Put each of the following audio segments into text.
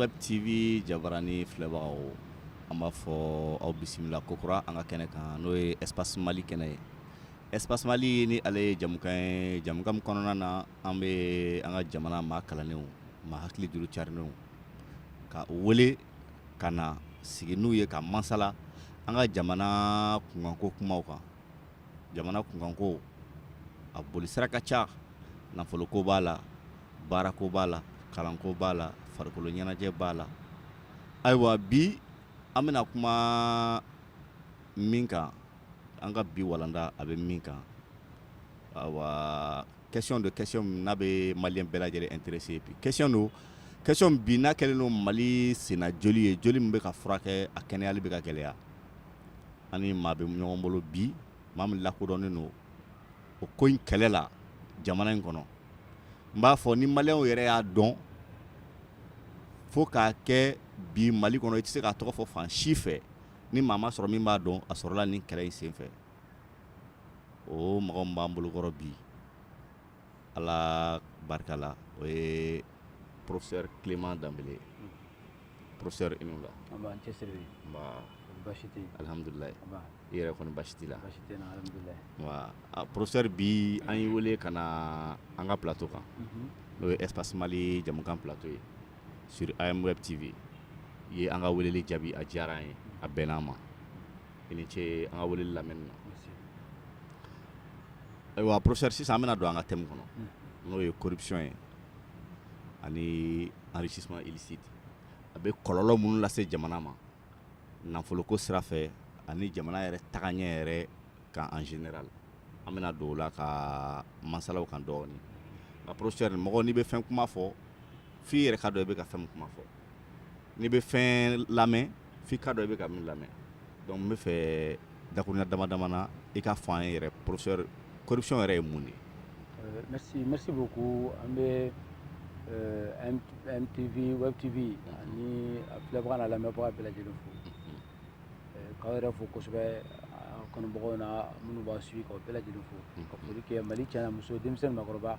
Web TV jabaranin filɛbagaw an b'a fɔ aw bisimila kokura an ka kɛnɛ kan n'o ye espace mali kɛnɛ ye espace mali ni ale ye jamukan ye jamukan min kɔnɔna na an bɛ an ka jamana maa kalanlenw maa hakili juru carinnenw k'u wele ka na sigi n'u ye ka masala an ka jamana kunkanko kumaw kan jamana kunkanko a boli sira ka ca nafoloko b'a la baarako b'a la kalanko b'a la farikolo ɲɛnajɛ b'a la ayiwa bi an bɛna kuma min kan an ka bi walanda a bɛ min kan ayiwa Question don question min n'a bɛ maliyɛn bɛɛ lajɛlen intéresser bi question don question min bi n'a kɛlen don Mali senna joli ye joli min bɛ ka furakɛ a kɛnɛyali bɛ ka gɛlɛya an ni maa bɛ ɲɔgɔn bolo bi maa min lakodɔnnen don o ko in kɛlɛ la jamana in kɔnɔ n b'a fɔ ni maliyɛnw yɛrɛ y'a dɔn fo k'a kɛ bi Mali kɔnɔ i tɛ se k'a tɔgɔ fɔ fan si fɛ ni maa ma sɔrɔ min b'a dɔn a sɔrɔla nin kɛlɛ in senfɛ o mɔgɔ min b'an bolokɔrɔ bi ala barika la o ye professeur Clément Dembélé ye professeur i ni wula an b'an cɛsiri nba basi tɛ yen alihamudulila nba i yɛrɛ kɔni basi t'i la basi tɛ n na alihamudulila nba a professeur bi an y'i wele ka na an ka plateau kan n'o ye espace mali jamukan plateau ye sur am web tv i ye an ka weleli jaabi a diyara an ye a bɛnna an ma i ni ce an ka wele lamɛn na ayiwa professeur sisan an bɛna don an ka thème kɔnɔ n'o ye corruption ye ani enrichissement illicite a bɛ kɔlɔlɔ minnu lase jamana ma nafoloko sira fɛ ani jamana yɛrɛ tagaɲɛ yɛrɛ kan en général an bɛna don o la ka masala o kan dɔɔnin nka professeur mɔgɔ n'i bɛ fɛn kuma fɔ f'i yɛrɛ k'a dɔn i bɛ ka fɛn min kuma fɔ n'i bɛ fɛn lamɛn f'i k'a dɔn i bɛ ka min lamɛn donc n b'a fɛ dakuruɲa dama dama na i k'a fɔ an ye yɛrɛ professeur corruption yɛrɛ ye mun de ye. Euh, merci merci beaucoup an bɛ euh, MTV Web TV ani a filɛbaga n'a lamɛnbaga bɛɛ lajɛlen fo euh, k'aw yɛrɛ fo kosɛbɛ a kanubagaw na minnu b'a suivi k'aw bɛɛ lajɛlen fo ka foli kɛ Mali cɛ n'a muso denmisɛn ni maakɔrɔba.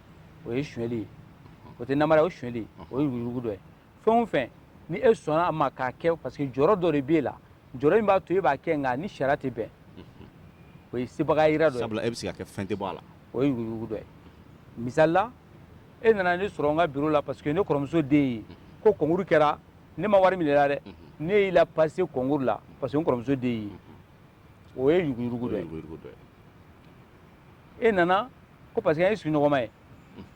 o ye sonyali ye o tɛ namara o sonyali o ye yuruguyurugu dɔ ye fɛn o fɛn ni e sɔnna a ma k'a kɛ parce que jɔyɔrɔ dɔ de b'e la jɔyɔrɔ in b'a to e b'a kɛ nka a ni sariya tɛ bɛn o ye sebagaya yira dɔ ye sabula e bɛ se k'a kɛ fɛn tɛ bɔ a la o ye yuruguyurugu dɔ ye misali la e nana ne sɔrɔ n ka biro la parce que ne kɔrɔmuso den ye ko kɔnkuru kɛra ne ma wari minɛ i la dɛ ne y'i lapase kɔnkuru la parce que n kɔrɔmuso den ye o ye yuruguyurugu dɔ ye e nana ko parce que an ye sigiɲɔgɔnma ye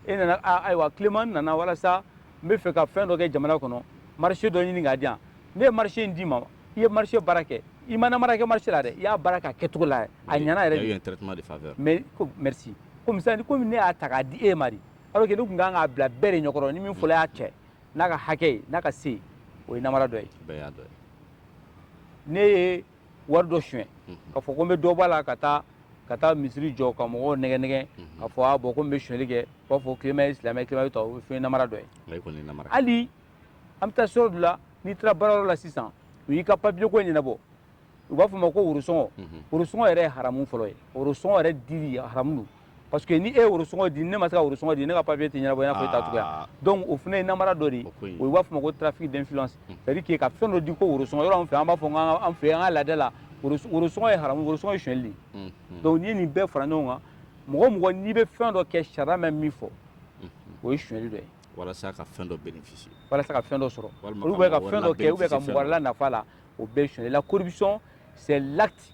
e nana ayiwa Clément nana walasa n bɛ fɛ ka fɛn dɔ kɛ jamana kɔnɔ marché dɔ ɲini k'a di yan ne ye marché in d'i ma i ye marché baara kɛ i ma namara kɛ marché la dɛ i y'a baara k'a kɛcogo la a ɲɛna yɛrɛ de mais ko merci komi sisan komi ne y'a ta k'a di e ma de alors que ne tun kan k'a bila bɛɛ de ɲɛkɔrɔ ni min fɔlɔ y'a cɛ n'a ka hakɛ ye n'a ka se o ye namara dɔ ye ne ye wari dɔ suɲɛ ka fɔ ko n bɛ dɔ b'a la ka taa ka taa misiri jɔ ka mɔgɔw nɛgɛ nɛgɛ ka fɔ a bɔn ko n bɛ suɲɛli kɛ u b'a fɔ Clément ye silamɛ Clément ye tɔ o ye fɛn namara dɔ ye hali an bɛ taa sɔrɔ dɔ la n'i taara baarayɔrɔ la sisan u y'i ka papiye ko ɲɛnabɔ u b'a fɔ ma ko worosɔngɔ worosɔngɔ yɛrɛ ye haramu fɔlɔ ye worosɔngɔ yɛrɛ dili haramu don parce que ni e ye worosɔngɔ di ne ma se ka worosɔngɔ di ne ka papier tɛ ɲɛnabɔ i n'a fɔ e ta cogoya ah. donc o fana ye namara dɔ de ye o ye b'a fɔ ma ko trafic d'influence hmm. c'est à dire que ka fɛn dɔ di ko worosɔngɔ yɔrɔ an fɛ an b'a fɔ k'an an fɛ an ka laada la worosɔngɔ ye haramu worosɔngɔ ye sonyɛli de ye hmm, hmm. donc n'i ye nin bɛɛ fara ɲɔgɔn kan mɔgɔ o mɔgɔ n'i bɛ fɛn dɔ kɛ sariya bɛ min fɔ o ye sonyɛli dɔ ye walasa ka fɛn dɔ bénéficier walasa ka fɛn dɔ sɔrɔ ou bien ka fɛn dɔ kɛ ou bien ka mɔgɔ wɛrɛ la nafa la o bɛɛ ye sonyɛli la corruption c'est l'acte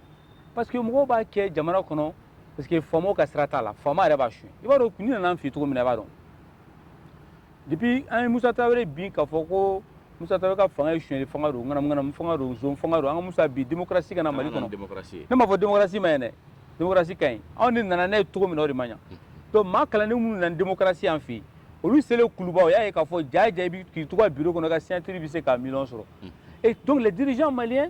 parce que mɔgɔw b'a kɛ jamana kɔnɔ parce que faamaw ka sira t'a la faama yɛrɛ b'a su i b'a dɔn ko in nana an fɛ cogo min na i b'a dɔn depuis an ye musa tarawele bin k'a fɔ ko musa tarawele ka fanga ye sonyali fanga don ŋanamuŋanamu fanga don zon fanga don an ka musa bin démocratie ka na mali kɔnɔ ne m'a fɔ démocratie ma ɲi dɛ démocratie ka ɲi anw de nana n'a ye cogo min na o de ma ɲa donc maa kalannen minnu nana démocratie an fɛ yen olu selen kuluba u y'a ye k'a fɔ jaa jaa i bɛ k'i to i ka biro kɔnɔ ka signature bɛ se ka miliyɔn sɔrɔ et donc les dirigeants maliens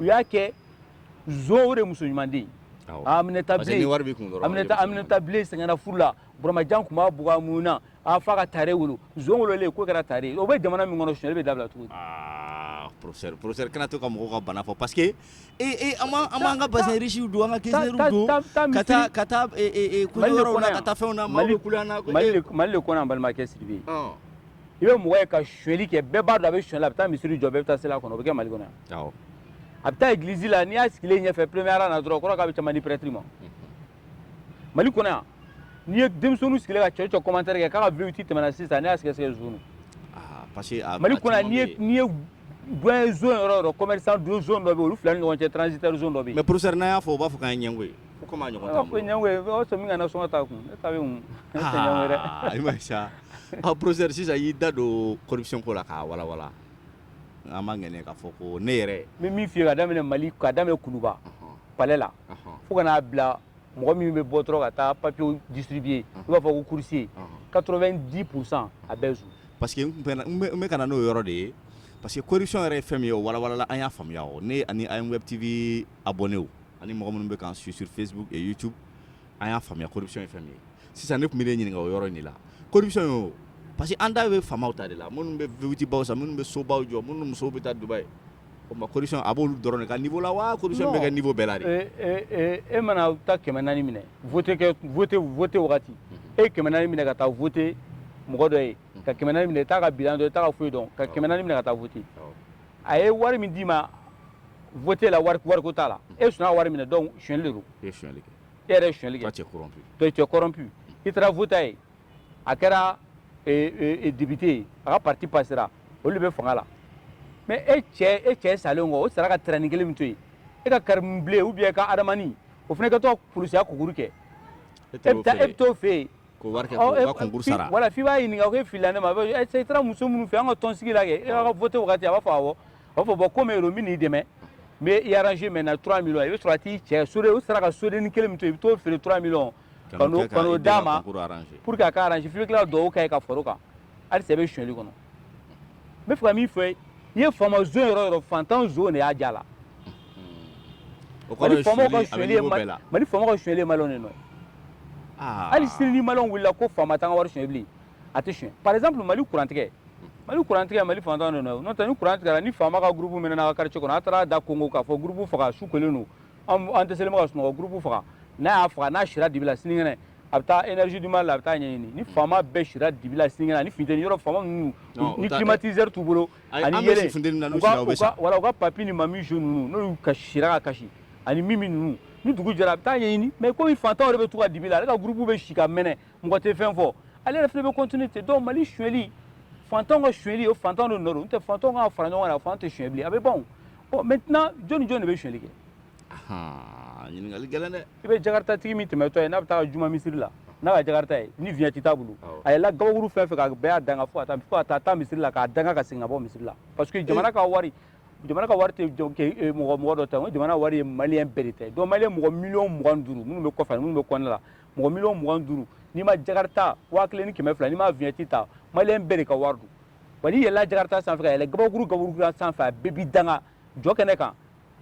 u y'a kɛ zon o de muso ɲuman den Aminata bilen sɛgɛnna furu la Buramajan tun b'a bugɔ a muɲuna f'a ka Tare wolo zon wololen k'o kɛra Tare ye o bɛ jamana min kɔnɔ sonyali bɛ dabila cogo di professeur professeur kana to ka mɔgɔw ka bana fɔ parce que e e an b'an an b'an ka bazin riche w don an ka keseru don ka taa ka taa e e e kɔɲɔ yɔrɔw la ka taa fɛnw na maaw bɛ kule an na Mali le kɔnɔ yan balimakɛ Sidibe i bɛ mɔgɔ ye ka suli kɛ bɛɛ b'a dɔn a bɛ suli a bɛ taa misiri jɔ bɛɛ bɛ taa seli a kɔnɔ o bɛ kɛ mali kɔnɔ a bɛ taa église la n'i y'a sigilen ɲɛfɛ premier rang na dɔrɔn k'o de bɛ caman di prêtre ma mali kɔnɔ n'i ye denmisɛnnin sigilen ka cɛ commentaire kɛ k'a V8 tɛmɛna sisan n' sigi sigi zun parce mali n'i ye bɔ zon yɔrɔ yɔrɔ commerçant dɔ bɛ olu fila ɲɔgɔn cɛ tsi dɔ mɛ psɛ n'a y'a fɔ u b'a fɔ k' ɲɛngo y'i ye ko komi a ɲɔgɔn t'an bolo, ɲɔgɔn ye o sɔmi ka nasɔngɔ ta ko ne ta bɛ min ne tɛ ɲɔgɔn ye dɛ aa i ma ye sa ɔ professeur sisan i y'i da don corruption ko la k'a walawala an b'a ŋɛniya k'a fɔ ko ne yɛrɛ n bɛ min f'i ye ka daminɛ mali ka daminɛ kuluba palais la fo ka n'a bila mɔgɔ min bɛ bɔ dɔrɔn ka taa papiyew distribuer i b'a fɔ ko coursier 90 pourcent a bɛɛ zon parce que n tun bɛ n bɛ- n bɛ ka na n'o yɔrɔ de ye parce que corruption yɛrɛ ye fɛn min ye o walawalala an y'a faamuya o ne ani IMWeb TV abonnéw ani mɔgɔ minnu bɛ k'an suivre sur facebook youtube an y'a faamuya corruption ye fɛn min ye sisan e tun bɛ ne ɲininka o yɔrɔ de la corruption ye parce que an da bɛ faamaw ta de la minnu bɛ v8baw san minnu bɛ sobaw jɔ minnu musow bɛ taa dubaï o ma corruption a b'olu dɔrɔn de ka niveau la wa corruption bɛ kɛ niveau bɛɛ la de e mana taa kɛmɛ naani minɛ voté wagati e kɛmɛ naani minɛ ka taa voté mɔgɔ dɔ ye ka kɛmɛ minɛ t'a ka bilan dɔn t'a foyi dɔn ka kɛmɛ naani minɛ ka taa voté a ye wari min d'i ma vote la wari wariko t'a la e sɔnna ka wari minɛ donc sonyali de don e ye sonyali kɛ e yɛrɛ ye sonyali kɛ toi tu es corrompu toi tu es corrompu i taara vote a ye a kɛra député ye a ka parti passera olu de bɛ fanga la mais e cɛ e cɛ salen kɔ o sara ka tɛrɛnin kelen min to yen e ka karimu bilen ou bien ka adamani o fana kɛtɔ ka polisiya concours kɛ e bɛ taa e bɛ t'o fɛ yen Ko wari kɛ k'u ka concours sara, ɔ e voilà f'i b'a ɲininka k'e filila ne ma i taara muso minnu fɛ yen an ka tɔnsigi la kɛ e ka voté wagati a b'a fɔ awɔ a b'a fɔ bon comme e don n bɛ n'i dɛmɛ n bɛ i arranger maintenant 3 millions i bɛ sɔrɔ ka t'i cɛ soden o sara ka sodennin kelen min to i bɛ t'o feere 3 millions ka n'o d'a ma pour que a ka arranger f'i bɛ tila ka dugawu k'a ye ka far'o kan halisa i bɛ sonyali kɔnɔ n b'a fɛ ka min fɔ i ye faama zon yɔrɔ yɔrɔ fantan zon de y'a ja la mali faama ka sonyali ye mali mali faama ka sonyali ye maliyɛnw de nɔ ye hali sini ni maliyɛnw wulila ko faama t'an ka wari sonyɛ bilen a tɛ sonyɛ par exemple mali kurantigɛ mali kurantigɛ mali fantan de nɔ ye n'o tɛ ni kuran tigɛra ni faama ka gurupu mɛnɛna a ka quartier kɔnɔ a taara da konkon k'a fɔ gurupu faga su kolen don an an tɛ selima ka sunɔgɔ gurupu faga n'a y'a faga n'a sira dibi la sinikɛnɛ a bɛ taa energie du mali la a bɛ t'a ɲɛɲini ni faama bɛɛ sira dibi la sinikɛnɛ ani funteni yɔrɔ faama ninnu ni climatiseur t'u bolo ani yeelen u ka u ka wala u ka papi ni mami jo ninnu n'olu ka sira ka kasi ani mimi ninnu ni dugu jɛra a bɛ t'a ɲɛɲini mais komi fantanw de bɛ to ka dibi la ale ka groupe bɛ si ka mɛnɛ mɔgɔ tɛ fɛn fɔ ale yɛrɛ fana bɛ continuer ten donc mali suyɛli faamaw ka suyɛli o fantanw de nɔ don n'o tɛ fantanw ka fara ɲɔgɔn kan fantanw tɛ suyɛ bilen a bɛ ban o bon maintenant jɔni jɔni de bɛ suyɛli kɛ ɲininkali gɛlɛn dɛ i bɛ jakarta tigi min tɛmɛtɔ ye n'a bɛ taa juma misiri la n'a ka jakarta ye ni vignette t'a bolo a yɛlɛla gabakuru fɛn fɛn kan bɛɛ y'a danga fo ka taa taa misiri la k'a danga ka segin ka bɔ misiri la parce que jamana ka wari jamana ka wari tɛ e, mɔgɔ mɔgɔ dɔ ta ko jamana wari ye maliyɛn bɛɛ de ta ye donc maliyɛn mɔgɔ miliyɔn mugan duuru minnu bɛ kɔfɛ minnu bɛ kɔnɔ la mɔgɔ miliyɔn mugan duuru n'i ma jakarta waa kelen ni kɛmɛ fila n'i ma vignette ta maliyɛn bɛɛ de ka wari don wa n'i yɛlɛla jakarta sanfɛ ka yɛlɛ gabakuru gabakuru sanfɛ a bɛɛ b'i danga jɔ kɛnɛ kan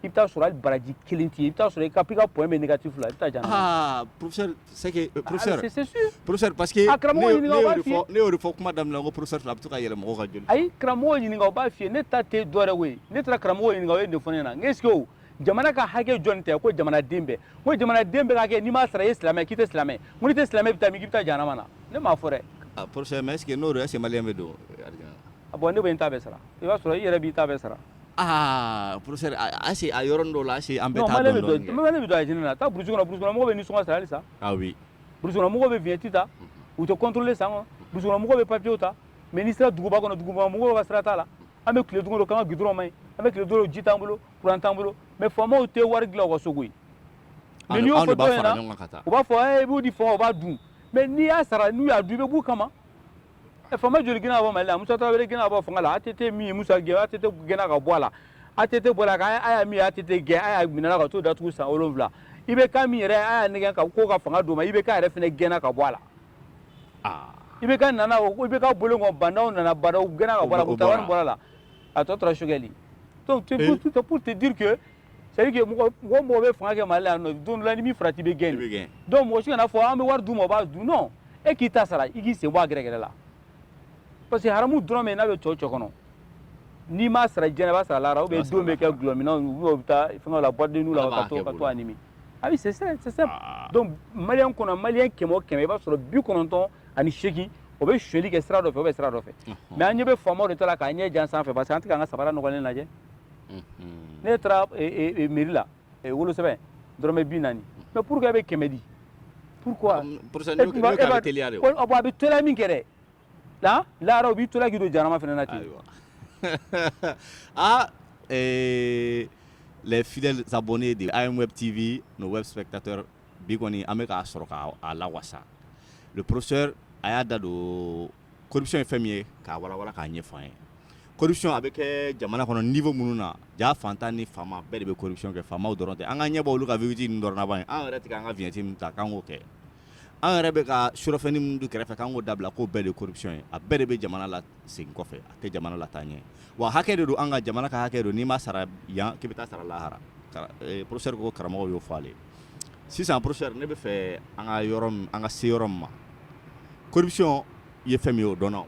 i bɛ t'a sɔrɔ hali baraji kelen t'i ye i bɛ t'a sɔrɔ i ka i ka point bɛ négatif la i bɛ taa jahanama professeur c'est que euh, professeur c'est sûr professeur parce que a karamɔgɔ ɲininka o b'a f'i ye ne y'o de fɔ kuma daminɛ na n ko professeur fila a bɛ to ka yɛlɛ mɔgɔ ka joli fɛ ayi karamɔgɔ ɲininka o b'a f'i ye ne ta tɛ dɔwɛrɛ ko ye ne taara karamɔgɔ ɲininka o ye nin fɔ ne ɲɛ na n ko est-ce que o jamana ka hakɛ jɔni ta ko jamanaden bɛɛ n ko jamanaden bɛɛ ka hakɛ n'i m'a sara i ye silamɛ k'i tɛ silamɛ n ko n'i tɛ silamɛ i bɛ taa min k'i bɛ taa jahanama na ne m'a fɔ dɛ ah professeur mais est-ce que n'o don est-ce que maliyɛn bɛ don alijana ah, bon ne bɛ n ta bɛɛ sara i b'a sɔrɔ i yɛrɛ b'i ta bɛɛ sara Aa p ayise a yɔrɔ dɔw la ase an bɛ taa don don na taa burusikɔnɔmɔgɔ bɛ nisɔngɔ sara sa burusikɔnɔmɔgɔ bɛ vignette ta u tɛ kɔntlen sa burusikɔnɔmɔgɔ bɛ papiyew ta mɛ n'i sera duguba kɔnɔ dugumɔgɔ ka sira t'a la an bɛ tile duuru kan du dɔrɔnma an bɛ tile duuru ji t'an bolo kuran t'an bolo mɛ faamaw tɛ wari dilan ka sogo u b'a fɔ b'u di fɔ u b'a dun mɛ n'i y'a sara n'u y'a dun bɛ b'u kama faama joli gɛnna ka bɔ mali la musa tarawele gɛnna ka bɔ fanga la att min ye musa gɛn att gɛnna ka bɔ a la att bɔra a kan aya min ye att gɛn aya minɛna ka t'o datugu san wolonwula ibk min yɛrɛ ye aya nɛgɛn ka ko ka fanga d'o ma ibk yɛrɛ fana gɛnna ka bɔ a la ibk nana o ibk bolo kɔn ba ndaw nana ba ndaw gɛnna ka bɔ a la mɔkitari wani bɔra a la a tɔ tora sogɛli donc pour te dire que c'est dire que mɔgɔ o mɔgɔ bɛ fanga kɛ Mali la yan nɔ don dɔ la n'i m'i farati i bɛ gɛn de donc mɔgɔ si kana fɔ an bɛ wari d'u ma o b'a dun non e k'i ta sara i k'i sen bɔ a gɛrɛgɛrɛ la parce que haramu dɔrɔmɛ n'a bɛ cɔ cɔ kɔnɔ n'i m'a sara diɲɛ i b'a sara lahara ou bien denw bɛ kɛ dɔlɔminnaw ou bien o bɛ taa fɛnkɛ la boîte de nuit la ka to ka to a nimi ah oui c'est ça c'est ça ah. donc maliyɛn kɔnɔ maliyɛn kɛmɛ o kɛmɛ i b'a sɔrɔ bi kɔnɔntɔn ani seegin o bɛ sonyali kɛ sira dɔ fɛ o bɛ sira dɔ fɛ mais an ɲɛ bɛ faamaw de ta la k'an ɲɛ jan sanfɛ parce que an tɛ k'an ka sabara nɔgɔlen lajɛ ne taara miiri la wolosɛbɛn dɔrɔmɛ bi naani mɛ pur bɛ kɛmɛ di pur a bɛ tola min kɛ la la u bɛ tolaki don jarama fana na ten aa lɛfi bɔnnen de a ye wɛrɛ t'ibi n'o wɛrɛ bɛ ka taa bi kɔni an bɛ k'a sɔrɔ k'a la wasa psɛ a y'a da don corruption ye fɛn min ye k'a walawala k'a ɲɛfɔ an ye corruption a bɛ kɛ jamana kɔnɔ niveau minnu na ja fantan ni faama bɛɛ de bɛ corruption kɛ faamaw dɔrɔn tɛ an k'an ɲɛ bɔ olu ka V8 ninnu dɔrɔn na ban an yɛrɛ tɛ k'an ka vignette min ta k'an k'o kɛ an yɛrɛ bɛ ka surɔfɛnni minnu dun kɛrɛfɛ k'an k'o dabila k'o bɛɛ de ye corruption ye a bɛɛ de bɛ jamana lasegin kɔfɛ a tɛ jamana lataa ɲɛ wa hakɛ de don an ka jamana ka hakɛ don n'i m'a sara yan k'i bɛ t'a sara lahara eh, professeur ko karamɔgɔw y'o fɔ ale ye sisan professeur ne bɛ fɛ an ka yɔrɔ min an ka se yɔrɔ min ma corruption ye fɛn min ye o dɔnna o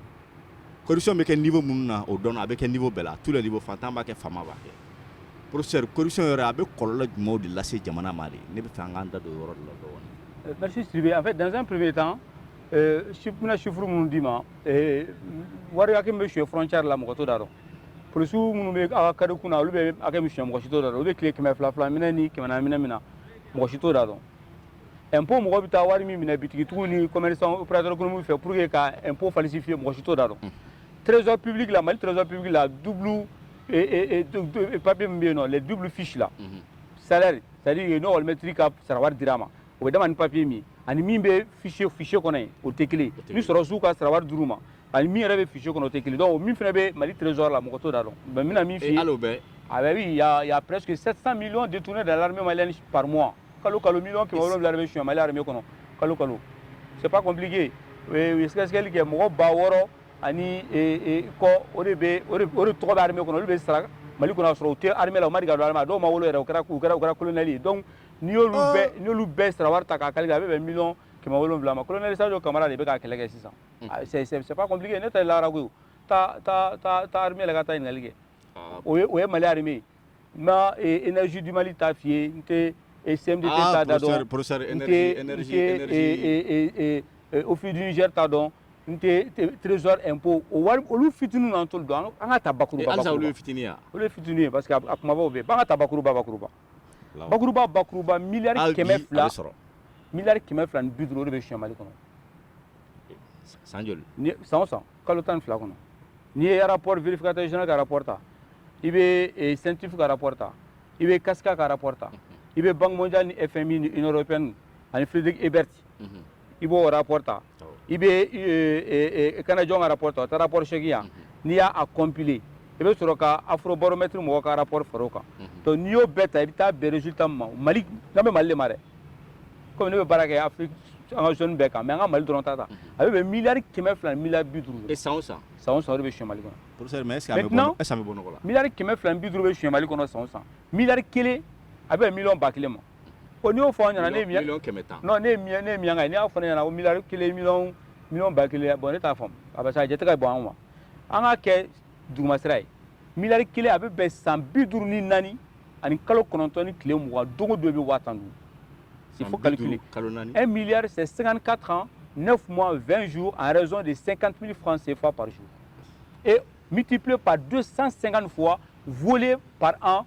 corruption bɛ kɛ niveau minnu na o dɔnna a bɛ kɛ niveau bɛɛ la à tous les niveaux fantan b'a kɛ faama b'a kɛ professeur corruption yɛrɛ a bɛ kɔlɔlɔ jumɛnw de lase jamana ma de ne bɛ fɛ an k'an da don o yɔrɔ de la dɔɔnin. Merci Sidibe en fait dans un premier temps bɛna chiffre minnu d'i ma wari hakɛ bɛ sonya frontière la mɔgɔ t'o da dɔn polisi minnu bɛ ala kari kun olu bɛ hakɛ min sonya mɔgɔ si t'o da u bɛ tile kɛmɛ fila fila minɛ ni kɛmɛ minɛ min na mɔgɔ si t'o da dɔn impôt mɔgɔ bɛ taa wari min minɛ bitigitigiw ni opérateurs économiques fɛ pour que ka impôt falsifier mɔgɔ si t'o da dɔn trésor public la mali trésor public la du papier min bɛ yen nɔn duuru fisila sari sari ye n'mɛtiri ka sarawa dira a ma o bɛ dama ni papiye min ani min bɛ fichier fichier kɔnɔ yen o tɛ kelen ye ni sɔrɔsiw ka sarawari dir'u ma ani min yɛrɛ bɛ fichier kɔnɔ o tɛ kelen donc min fana bɛ Mali trésor la mɔgɔ t'o da dɔn mais n bɛna min f'i ye hali o bɛɛ a bɛ oui il y a il y a presque 700 millions détournés dans l'armée malienne par mois kalo kalo million kɛmɛ wolonwula de bɛ suɲɛ Mali armée kɔnɔ kalo kalo c'est pas compliqué u ye sɛgɛsɛgɛli kɛ mɔgɔ ba wɔɔrɔ ani kɔ o de bɛ o de tɔgɔ bɛ armée kɔnɔ olu bɛ sara Mali kɔnɔ k'a sɔrɔ u tɛ armée la u ma deli ka don armée la dɔw ma wolo yɛrɛ u kɛra u kɛra u kɛra colonel ye donc n'i y'olu oh. bɛɛ n'olu bɛɛ sara wari ta k'a calculer a bɛ bɛn miliyɔn kɛmɛ wolonwula ma kolonɛli sajo kamara de bɛ k'a kɛlɛ kɛ sisan hmm. ah, c'est pas compliqué ne ta ye lagara koyi taa taa taa taa armée la ka taa ɲininkali kɛ ah. o ye o ye mali armée ye n ma eh, énergie du mali ta f'i ye n tɛ eh, CMDT ah, ta da dɔn n tɛ n tɛ eh, office du niger ta dɔn n tɛ trésor impôt o wari olu fitini n'an t'olu dɔn an k'a ta bakuruba bakuruba halisa olu ye fitini ye olu ye fitini ye parce que a kumabaw bɛ yen an k'a ta bakuruba bakuruba bakuruba bakuruba miliyari kɛmɛ fila miliyari kɛmɛ fila ni bi duuru o de bɛ soɲɛ mali kɔnɔ san joli san o san kalo tan ni fila kɔnɔ n'i ye rapport vérificateur général ka rapport ta i bɛ eh, CENTIF ka rapport ta i bɛ CASCA ka rapport ta i bɛ banque mondiale ni FMI ni union européenne ani Friedrich Ebert mhm. i b'o rapport ta i bɛ e, e, e, canadiens ka rapport ta o tɛ rapport seegin ye wa n'i y'a a compiler i bɛ sɔrɔ ka afrobaromètre mɔgɔw ka rapport fara o kan donc n'i y'o bɛɛ ta i bɛ taa bɛn résultat min ma mali n'an bɛ mali de ma dɛ komi ne bɛ baara kɛ afiriki an ka zone bɛɛ kan mais an ka mali dɔrɔn ta ta a bɛ bɛn miliyari kɛmɛ fila ni miliyari bi duuru de san o san san o san o de bɛ sonyɛ mali kɔnɔ professeur mais est ce que an bɛ bɔ est ce que an bɛ bɔ nɔgɔ la miliyari kɛmɛ fila ni bi duuru bɛ sonyɛ mali kɔnɔ san o san miliyari kelen a bɛ bɛn miliyɔn ba kelen ma ko n'i y'o fɔ an ɲɛna ne ye miliyɔn kɛmɛ tan ne ye miliyɔn ne ye miliyɔn kan n'i y'a fɔ ne ɲɛna ko miliyari kelen miliyɔn miliyɔn ba kelen bon ne t'a faamu a bɛ se a jate ka bon an ma an k'a kɛ dugumasira ye miliyari kelen a bɛ bɛn san bi duuru ni naani ani kalo kɔnɔntɔn ni tile mugan don o don i bɛ waa tan dun s'il faut calculer un milliard c'est 54 ans 9 mois 20 jours en raison de 50 000 francs CFA par jour et multiplié par 250 fois volé par an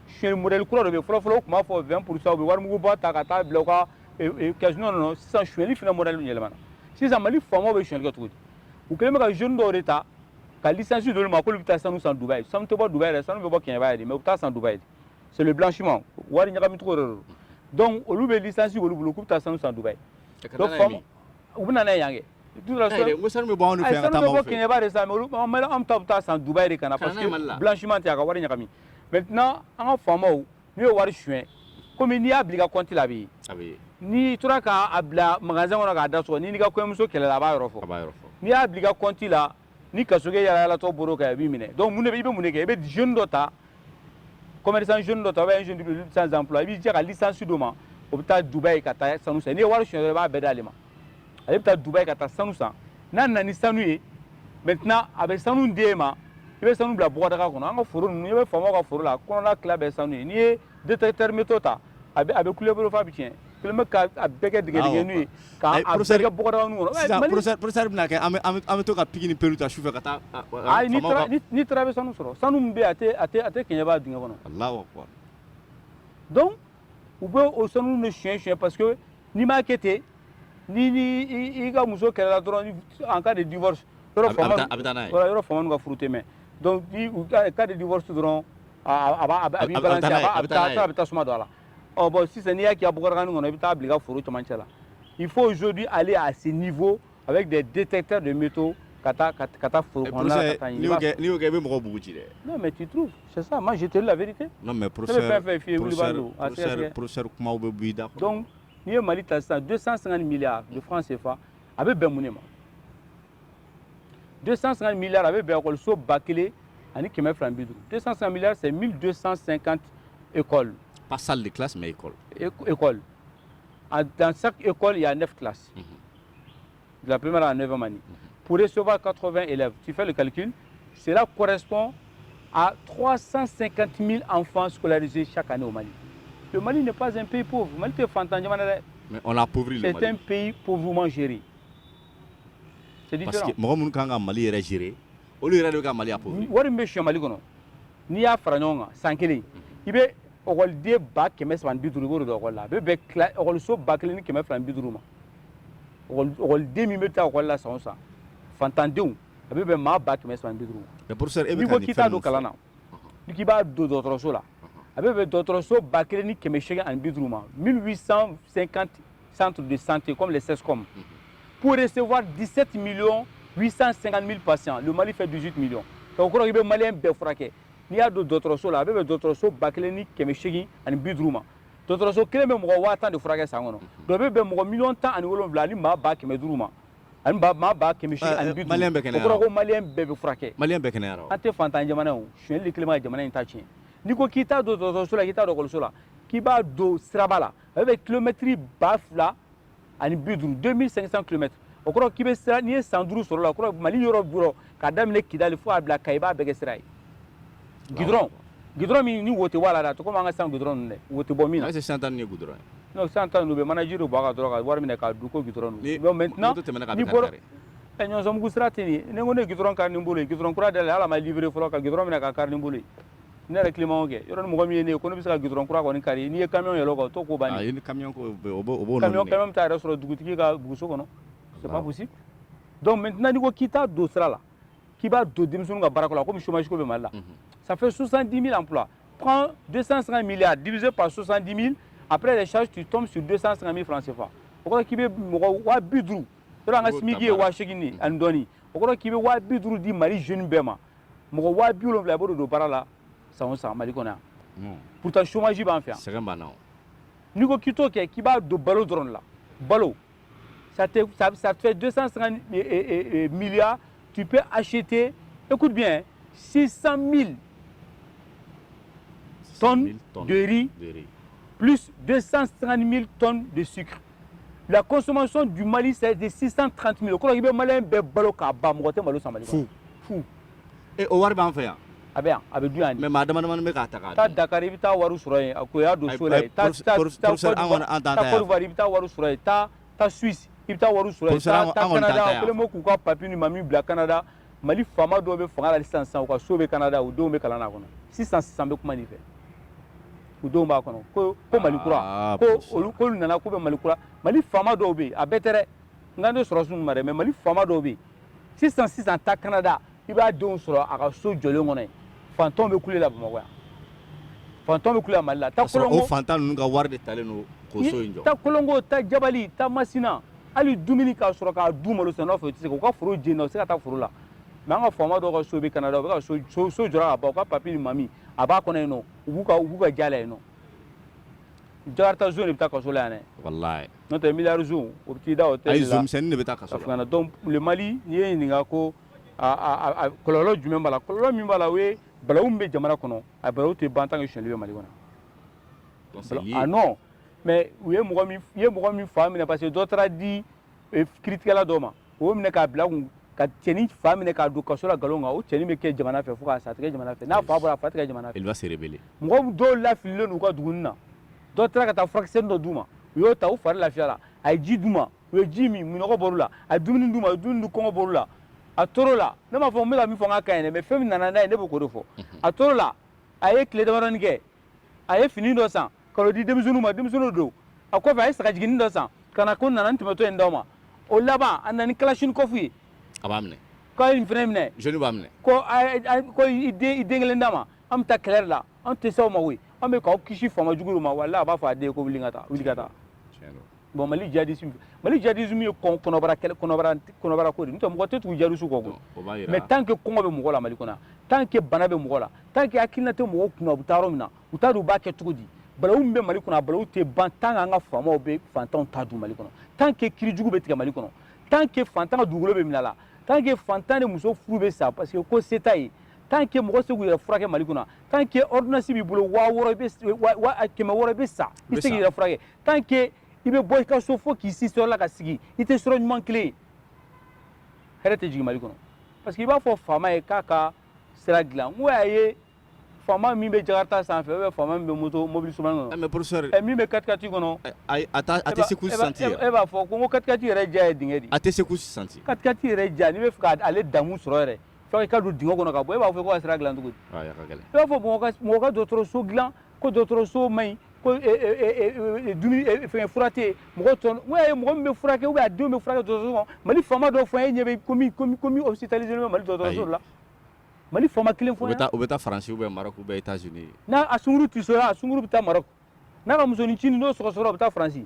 Sonyali modèle kura dɔ bɛ yen, fɔlɔ fɔlɔ u tun b'a fɔ 20 pour cent u bɛ warimuguba ta ka taa bila u ka caisse nɔ na, sisan sonyali fana modèle yɛlɛmana. Sisan Mali faamaw bɛ sonyali kɛ cogo di? U kɛlen bɛ ka jeunes dɔw de ta ka licence d'olu ma k'olu bɛ taa sanu san Dubaï. Sanu tɛ bɔ Dubaï dɛ, sanu bɛ bɔ Kɛɲɛba de mais u bɛ taa san Dubaï de. C'est le blanchiment, wari ɲagami cogo de don. Donc olu bɛ licence k'olu bolo k'u bɛ taa sanu san Dubaï. Donc faamaw U bɛ yan kɛ sanu bɛ bɔ kɛɲɛba de sa an ta bɛ taa san Dubaï de ka na parce que blanchiment tɛ ka wari ɲagami maintenant an ka faamaw n'u ye wari sonyɛ kɔmi n'i y'a bila i ka kɔnti la a bɛ ye n'i tora k'a bila magasin kɔnɔ k'a da sɔgɔ n'i n'i ka kɔɲɔmuso kɛlɛla a b'a yɔrɔ fɔ n'i y'a bila i ka kɔnti la ni kasoge yaalayaalatɔ boro kan a b'i minɛ donc mun de i bɛ mun de kɛ i bɛ jeune dɔ ta commerçant jeune dɔ ta ou bien jeune de sans emploi i b'i jɛ ka licence d'o ma o bɛ taa Dubaï ka taa sanu san n'i ye wari sonyɛ dɔrɔn i b'a bɛɛ d'ale ma ale bɛ taa Dubaï ka taa sanu san n'a nana ni sanu ye maintenant a bɛ sanu d'e ma i bɛ sanu bila bɔgɔdaga kɔnɔ an ka foro ninnu i bɛ faamaw ka foro la kɔnɔna tila bɛɛ sanu ye n'i ye détecteur métaux ta a bɛ a bɛ kule i bolo f'a bɛ tiɲɛ kɛlen bɛ ka a bɛɛ kɛ dingɛ dingɛninw ye ka a bɛɛ kɛ bɔgɔdagani kɔnɔ sisan professeur professeur bɛna kɛ an bɛ an bɛ to ka pique ni pelle ta sufɛ ka taa ayi n'i taara n'i taara i bɛ sanu sɔrɔ sanu min bɛ yen a tɛ a tɛ a tɛ Kɛɲɛba dingɛ kɔnɔ Alahu akibaru donc u bɛ o sanu de sonyɛ sonyɛ parce que n'i m'a kɛ ten n'i ni i ka muso kɛlɛla dɔrɔn en cas de divorce or faama a bɛ taa n'a ye voilà or faamaw ka furu tɛ mɛn donc ni u ka cas de divorce dɔrɔn a b'a a b'i balancer a b'a a bɛ taa a bɛ tasuma don a la ɔ bon sisan n'i y'a k'i ka bɔgɔdagani kɔnɔ i bɛ taa bila i ka foro cɛmancɛ la il faut aujourd'hui aller à ce niveau avec des détecteurs de métaux ka taa ka taa foro eh, kɔnɔna la ka t'a ɲini n'i y'o kɛ i bɛ mɔgɔ bugu ci dɛ non mais tu trouves c'est ça moi je te dis la vérité non mais professeur professeur professeur kumaw bɛ bɔ i da kɔnɔ donc n'i ye Mali ta sisan 250 milliards de francs CFA a bɛ bɛn mun de ma 250 milliards a bɛ bɛn ekɔliso ba kelen ani kɛmɛ fila ni bi duuru 250 milliards c'est 1250 écoles pas salle de classe mais école école dans chaque école il y a 9 classes mm -hmm. de la première à 9e année, pour recevoir 80 élèves, tu fais le calcul, cela correspond à 350 000 enfants scolarisés chaque année au Mali. Le Mali n'est pas un pays pauvre. Le Mali est Mais on a appauvri le Mali. C'est un pays pauvrement géré. C'est différent. Parce que mɔgɔ minnu ka kan ka Mali yɛrɛ gérer, olu de ye Mali appauvri. Wari min bɛ sonyɛ Mali kɔnɔ n'i y'a fara ɲɔgɔn kan san kelen i bɛ ekɔliden ba kɛmɛ saba ni bi duuru i b'o de don ekɔli la a bɛ bɛn ekɔliso ba kelen ni kɛmɛ fila ni bi duuru ma. ekɔliden min bɛ taa ekɔli la san o san fantandenw a bɛ bɛn maa ba kɛmɛ saba ni bi duuru mais professeur e bɛ n'i ka ko nin k'i t'a fɛn don ninnu kalan na n'i k'i b'a don dɔgɔtɔrɔso la a bɛ bɛn dɔgɔtɔrɔso ba kelen ni kɛmɛ seegin ani bi duuru ma 1850 centre de santé comme les CSCOM pour recevoir 17 millions 850 000 patients le mali fait 18 millions ka o kɔrɔ k'i bɛ maliyɛn bɛɛ furakɛ n'i y'a don dɔgɔtɔrɔso la a bɛ bɛn dɔgɔtɔrɔso ba kelen ni kɛmɛ seegin ani bi duuru ma dɔgɔtɔrɔso kelen bɛ mɔgɔ waa tan de furakɛ san kɔnɔ donc o bɛ bɛn mɔgɔ miliyɔn tan ani wolonwula ani maa ba kɛmɛ duuru ma ani maa ba kɛmɛ seegin ani bi duuru o kɔrɔ ko maliyɛn bɛɛ bɛ furakɛ maliyɛn bɛɛ kɛnɛyara an tɛ fantan jamana ye sonyɛli kɛlen bɛ ka jamana in ta tiɲɛ n'i ko k'i t'a don dɔgɔtɔrɔso la k'i t'a don ekɔliso la k'i b'a don siraba la a bɛ bɛn kilomɛtiri ba fila ani bi duuru 2500 kilomètres o kɔrɔ k'i bɛ sira n'i ye san duuru sɔrɔ la o kɔrɔ mali yɔrɔ o yɔrɔ k'a daminɛ kidali fo k'a bila kayi i b'a bɛɛ kɛ sira ye gidɔrɔn gidɔrɔn min ni hauteur b'a la dɛ a tɛ komi an ka sisan gidɔrɔn ninnu dɛ hauteur bɛ min na est-ce que sisan ta nin ye gidɔrɔn ye non sisan ta ninnu bɛ manaji de bɔn a kan dɔrɔn ka wari minɛ k'a dun ko gidɔrɔn don donc maintenant moto tɛmɛna a kan i bɛ bɔra kari ɛ ɲɔnsɔnbugu sira tɛ nin ye ni n ko ne ye gidɔrɔn kari ni n bolo ye gidɔrɔn kura dayɛlɛ hali a ma livrer fɔlɔ ka gidɔrɔn minɛ k'a kari ni n bolo ye ne yɛrɛ kilimaw kɛ yɔrɔ ni mɔgɔ min ye ne ye ko ne bɛ se ka gudɔrɔn kura kɔni kari n'i ye kamiyɔn yɛlɛ o kan o t'o ko bannen ye ni kamiyɔn ko o b'o o b'o kamiyɔn kamiyɔn bɛ taa a yɛrɛ sɔrɔ dugutigi ka buguso kɔnɔ c'est pas possible donc maintenant n'i ko k'i t'a don sira la k'i b'a don denmisɛnninw ka baarako la komi chômage ko bɛ Mali la mhm. ça fait 70 000 emplois prends 250 milliards divisé par 70 000 après les charges tu tombes sur 250 000 francs CFA o kɔrɔ k'i bɛ mɔgɔ waa bi duuru yɔrɔ an ka SMIC ye waa seegin de ye ani dɔɔnin o kɔrɔ k'i bɛ waa bi duuru di Mali jeune bɛɛ ma mɔgɔ waa bi wolonwula i b'o de don baara la san o san mali kɔnɔ yan hmm. pourtant chômage b'an fɛ yan sɛgɛn b'an na n'i ko k'i t'o kɛ k'i b'a don balo dɔrɔn de la balo ça te ça, ça te fait 250 eh, eh, eh, milliards tu peux acheter écoute bien 600 000 tonnes, tonnes de riz, de riz plus 250 000 tonnes de sucre la consommation du Mali c'est de 630 000 o kɔrɔ k'i bɛ maliyɛn bɛɛ balo k'a ban mɔgɔ tɛ malo san Mali kɔnɔ fewu o wari b'an fɛ yan a bɛ yan a bɛ dun yan mais maa damadamanin bɛ k'a ta k'a taa Dakar i bɛ taa wari sɔrɔ yen a ko y'a don so la yen taa taa taa Côte d'Ivoire i bɛ taa wari sɔrɔ yen taa taa Suisse i bɛ taa wari sɔrɔ yen taa taa Canada o kɛlen bɛ k'u ka papi ni mami bila Canada mali faama dɔw bɛ fanga la sisan sisan u ka so bɛ kanada u denw bɛ kalan na kɔnɔ sisan sisan n bɛ kuma nin fɔ u denw b'a kɔnɔ ko ko mali kura ah, ko olu k'olu nana k'u bɛ mali kura mali faama dɔw bɛ yen a bɛɛ tɛ dɛ n kan tɛ sɔrɔdasiw ma dɛ mais mali faama dɔw bɛ yen sisan sisan taa kanada i b'a denw sɔrɔ a ka so jɔlen kɔnɔ yen faantan bɛ kule la bamakɔ yan faantan bɛ kule la mali la taa kolongo o faantan ninnu ka wari de talen don k'o so in jɔ taa kolongo taa jabali taa masina hali dumuni k'a sɔrɔ k'a dun malo sɛnɛ fɛ o tɛ se u ka foro jeni u tɛ se ka taa foro la mais an ka faama dɔw ka so bɛ kanada u bɛ ka so so jɔra ka ban u ka papi ni mami a b'a kɔnɔ yen non u b'u ka u b'u ka jala yen non jakarta zon de bɛ taa kaso la yan dɛ walayi n'o tɛ miliyari zon o bɛ t'i da o tɛ ayi zon misɛnnin de bɛ taa kaso la donc le mali n'i ye n ɲininka ko a kɔlɔlɔ jumɛn b'a la kɔlɔlɔ min b'a la o ye balawu min bɛ jamana kɔnɔ a balawu tɛ ban tant que sonyali bɛ mali kɔnɔ ah non mais u ye mɔgɔ min ye mɔgɔ min fa minɛ parce que dɔ taara di e, kiritigɛla dɔ ma o y'o minɛ k'a bila kun ka cɛnin fa minɛ k'a don kaso la nkalon kan o cɛnin bɛ kɛ jamana fɛ fo k'a sa a tɛ kɛ jamana fɛ n'a fa bɔra a fa tɛ kɛ jamana fɛ mɔgɔ dɔw lafililen don u ka dugu na dɔ taara ka taa furakisɛnin dɔ d'u ma u y'o ta u fari lafiyara a ye ji d'u ma u ye ji min minnɔgɔ bɔr'u la a ye dumuni d'u ma u ye dumuni dun kɔngɔ bɔr'u la a tor'o la ne m'a fɔ n bɛ ka min fɔ n k'a ka ɲi dɛ mais fɛn min nana n'a ye ne bɛ k'o de fɔ a tor'o la a ye tile damadɔni kɛ a ye fini dɔ san ka n'o di denmisɛnninw ma denmisɛnninw don a kɔfɛ a ye sagajiginin dɔ san ka na ko nana ni tɛmɛtɔ ye n d'aw ma o laban a nana ni kalasinikɔfu ye a b'a minɛ k'a ye nin fana minɛ joli b'a minɛ ko ko i den kelen d'a ma an bɛ taa kɛlɛ la an tɛ se aw ma koyi an bɛ k'aw kisi faama jugu ma wala a b'a fɔ a den ko wuli ka taa wuli ka taa bon mali jihadisi mali jihadisi ye kɔnɔbara kɔnɔbara ko de n'o tɛ mɔgɔ tɛ tugu jihadisiw kɔ koyi mais tant que kɔngɔ bɛ mɔgɔ la mali kɔnɔ tant que bana bɛ mɔgɔ la tant que hakilina tɛ mɔgɔ kunna u bɛ taa yɔrɔ min na u t'a dɔn u b'a kɛ cogo di balawu min bɛ mali kɔnɔ a balawu tɛ ban tant que an ka faamaw bɛ fantanw ta dun mali kɔnɔ tant que kiri jugu bɛ tigɛ mali kɔnɔ tant que fantan ka dugukolo bɛ minɛ a la tant que fantan n'a muso furu bɛ sa parce que ko se t'a ye tant que mɔgɔw tɛ se k'u yɛrɛ furakɛ mali kɔnɔ tant que ordonnance b'i bolo waa wɔɔrɔ i bɛ wa wa kɛmɛ wɔɔrɔ i bɛ sa i tɛ se k'i yɛrɛ furakɛ tant que i bɛ bɔ i ka so fo k'i si sɔrɔ la ka sigi i tɛ sira ɲuman kelen ye hɛrɛ tɛ jigin mali kɔnɔ parce que i b'a fɔ faama ye k'a ka sira dilan n ko a ye faama min bɛ jakarta sanfɛ ou bien faama min bɛ moto mobili suguman kɔnɔ. Mais professeur ɛ min bɛ katikati kɔnɔ. Ayi a t'a a tɛ secousse sentir. E b'a fɔ ko n ko katikati yɛrɛ diya ye dingɛ de ye. A tɛ secousse sentir. Katikati yɛrɛ diya n'i bɛ fɛ ka ale damu sɔrɔ yɛrɛ fo i ka don dingɛ kɔnɔ ka bɔ e b'a fɔ ko ka sira dilan cogo di. Ayi a ka gɛlɛn. E b'a fɔ mɔgɔ ka mɔgɔ ka dɔgɔtɔrɔso dilan ko dɔgɔtɔrɔso man ɲi ko e, e, e, dumuni fɛngɛ fura tɛ yen mɔgɔ tɔ n ko y'a ye mɔgɔ min bɛ furakɛ ou bien a denw bɛ furakɛ dɔgɔtɔrɔso kɔnɔ Mali faama dɔ fɔ an ye e ɲɛ bɛ ko min ko min ko min hospitaliser len bɛ Mali dɔgɔtɔrɔso dɔ la. Mali faama kelen fɔ u bɛ taa faransi u bɛ Maroc u bɛ États-Unis n'a a sunguru tisora a sunguru bɛ taa Maroc n'a ka musonincinin n'o sɔgɔsɔgɔra u bɛ taa faransi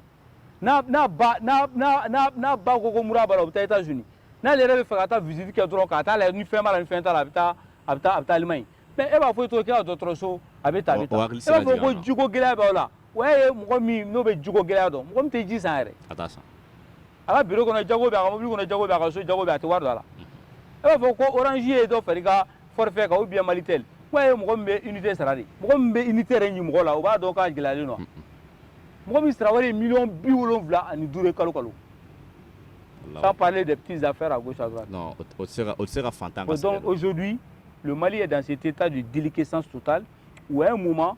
n'a ba ko ko mura b'a la u bɛ taa États-Unis n'ale yɛrɛ bɛ fɛ ka taa visite kɛ dɔrɔn ka taa la ni fɛn ni fɛn ta la a bɛ taa a bɛ taa a bɛ taa Allemagne mais e b'a fɔ o ka dɔgɔtɔrɔso a bɛ taa bɛ ko jiko gɛlɛya b'aw la o ye mɔgɔ min n'o bɛ jiko gɛlɛya dɔn mɔgɔ min tɛ ji san yɛrɛ a ka biro kɔnɔ Diago bɛ a ka mobili kɔnɔ Diago bɛ a ka so Diago bɛ a tɛ wari don a la e b'a fɔ ko orange ye dɔ fara i ka forfait kan ou bien malitel k'o ye mɔgɔ min bɛ unité sara de mɔgɔ min bɛ unité yɛrɛ ɲini mɔgɔ la o b'a dɔn k'a gɛlɛyalen don mɔgɔ min sara wari ye miliyɔn bi wolonwula ani duuru ye kalo kalo sans parler des petites affaires à gauche à droite non o tɛ se ka o tɛ se ka fantan ka donc aujourd'hui le Mali est dans cet état de déliquescence totale où à un moment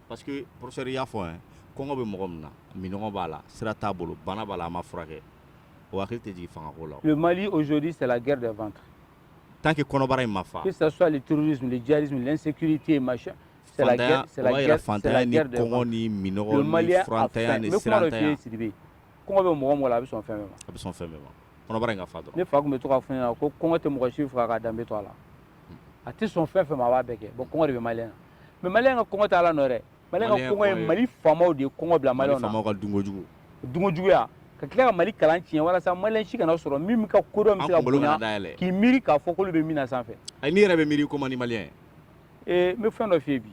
Parce que professeur i y'a fɔ hein kɔngɔ bɛ mɔgɔ min na minɔgɔ b'a la sira t'a bolo bana b'a la a ma furakɛ o hakili tɛ jigin fangako la Le Mali aujourd'hui c'est la guerre des ventres. tant que kɔnɔbara in ma fa Que ce soit le terrorisme, le djihadisme, l'insécurité, machin. C'est la fantanya guerre, o c'est la b'a jira guerre, c'est la fantanya guerre ni des kɔngɔ ventres. ni minɔgɔ Le Mali ni a furantanya faim. ni N bɛ kuma dɔ f'i sirantanya ye Sidibe. kɔngɔ bɛ mɔgɔ o mɔgɔ la a bɛ sɔn fɛn bɛɛ ma a bɛ sɔn fɛn bɛɛ ma kɔnɔbara in ka fa dɔrɔn ne fa tun bɛ to k'a fɔ n ɲɛna ko kɔngɔ tɛ mɔgɔ si faga k'a danbe to a la a tɛ sɔn fɛn fɛn ma a b'a bɛɛ kɛ bon kɔngɔ de bɛ maliyɛn na mais maliyɛn ka kɔngɔ tɛ ala nɔ dɛ maliyɛn ka kɔngɔ ye mali faamaw de ye kɔngɔ bila maliyɛnw na faamaw ka dunko jugu dunko juguya ka tila ka mali kalan tiɲɛ walasa maliyɛn si kana sɔrɔ min ka kodɔn bɛ se ka bonya k'i miiri k'a fɔ k'olu bɛ min na sanfɛ ayi n'i yɛrɛ bɛ miiri ko man di maliyɛn ye ee n bɛ fɛn dɔ f'i ye bi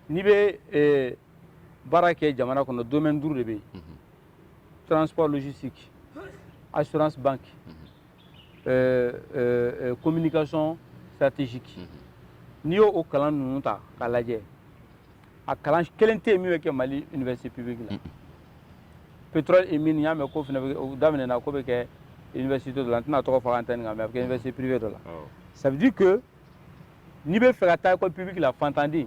n'i bɛ baara kɛ jamana kɔnɔ domaine duuru de bɛ yen transport logistique assurance banque euh, euh, euh, communication stratégique n'i y'o o kalan ninnu ta k'a lajɛ a kalan kelen tɛ yen min bɛ kɛ mali université publique la pétrole et mine n y'a mɛn ko fana o daminɛna k'o bɛ kɛ université dɔ la n tɛna tɔgɔ fɔ antenne kan mais a bɛ kɛ université privée dɔ la ça veut dire que n'i bɛ fɛ ka taa école publique la fantanden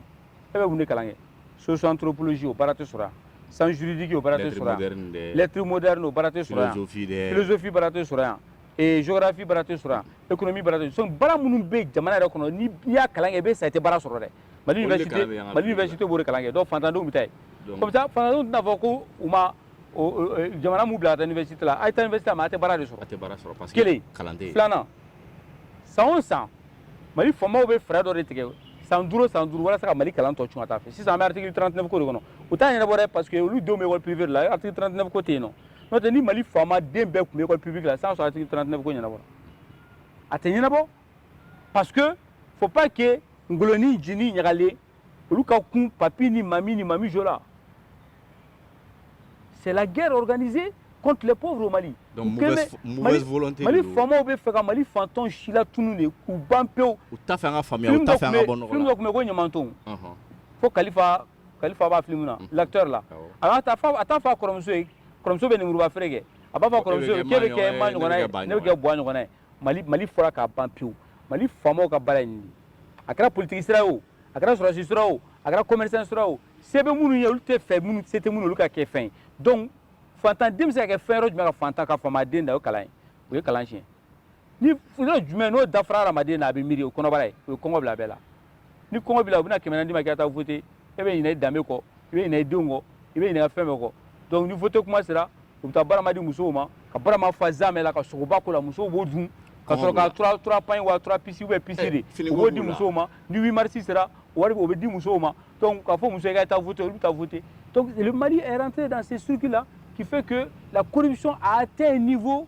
e bɛ mun de kalan kɛ socio-anthropologie o baara tɛ sɔrɔ yan sciences juridiques o baara tɛ sɔrɔ yan lettre moderne o baara tɛ sɔrɔ yan philosophie baara tɛ sɔrɔ yan ee géographie baara tɛ sɔrɔ yan économie baara tɛ sɔrɔ baara minnu bɛ jamana yɛrɛ kɔnɔ n'i y'a kalan kɛ i bɛ sa i tɛ baara sɔrɔ dɛ mali université mali université b'o de kalan kɛ donc fantandenw bɛ taa yen o bɛ taa fantandenw tɛna fɔ ko u ma jamana m'u bila ka taa université la a ye taa université la mais a tɛ baara de sɔrɔ kelen filanan san o san mali faamaw bɛ fɛɛrɛ dɔ de tigɛ san duuru san duuru walasa ka mali kalan tɔ cun ka taa fɛ sisan an bɛ article 39 ko de kɔnɔ u t'a ɲɛnabɔ dɛ parce que olu denw bɛ école privée de la article 39 ko tɛ yen n'o tɛ ni mali faama den bɛɛ tun bɛ école publique la sisan sɔrɔ article 39 ko ɲɛnabɔra a tɛ ɲɛnabɔ parce que faut pas que ngolo ni nci ni ɲagalen olu ka kun papi ni mami ni mami jo la c'est la guerre organisée contre les pauvres au Mali. Donc mauvaise, mauvaise volonté. Mali faamaw bɛ fɛ ka Mali fantan silatunun de k'u ban pewu. U t'a fɛ an ka faamuya, u t'a fɛ an ka bɔ nɔgɔ la. Film dɔ tun bɛ ko Ɲamanton. Fo Kalifa Kalifa b'a film na, l'acteur la. A bɛ t'a fɔ a t'a fɔ a kɔrɔmuso ye, kɔrɔmuso bɛ lemuruba feere kɛ. A b'a fɔ a kɔrɔmuso ye k'e bɛ kɛ ma ɲɔgɔnna ye, ne bɛ kɛ bwa ɲɔgɔnna ye. mali mali fɔra ka ban pewu mali faamaw ka baara ye nin de a kɛra politiki sira o a kɛra sɔrɔsi sira o a kɛra commerçant sira o se bɛ minnu ye olu t'a fɛ minnu se tɛ minnu olu ka kɛ fɛn ye donc fantan den bɛ se ka kɛ fɛn yɔrɔ jumɛn ka fantan ka faama den dan o kalan ye o ye kalan tiɲɛ ni yɔrɔ jumɛn n'o dafara hadamaden na a bɛ miiri o kɔnɔbara ye o ye kɔngɔ bila a bɛɛ la ni kɔngɔ b'i la u bɛna kɛmɛ naani d'i ma k'i ka taa vote e bɛ ɲinɛ i danbe kɔ i bɛ ɲinɛ i denw kɔ i bɛ ɲinɛ fɛn bɛɛ kɔ donc ni vote kuma sera u bɛ taa barama di musow ma ka barama fa zamɛ la ka sogoba k'o la musow b'o dun ka sɔrɔ ka trois trois pagnes wa trois pièces ou bien pièce eh, de u b'o di musow ma ni 8 mars sera wari o bɛ di musow ma donc k'a fɔ muso ye k'a taa vote olu bɛ taa vote donc le Mali est rentré dans ce circuit là qui fait que la corruption a atteint un niveau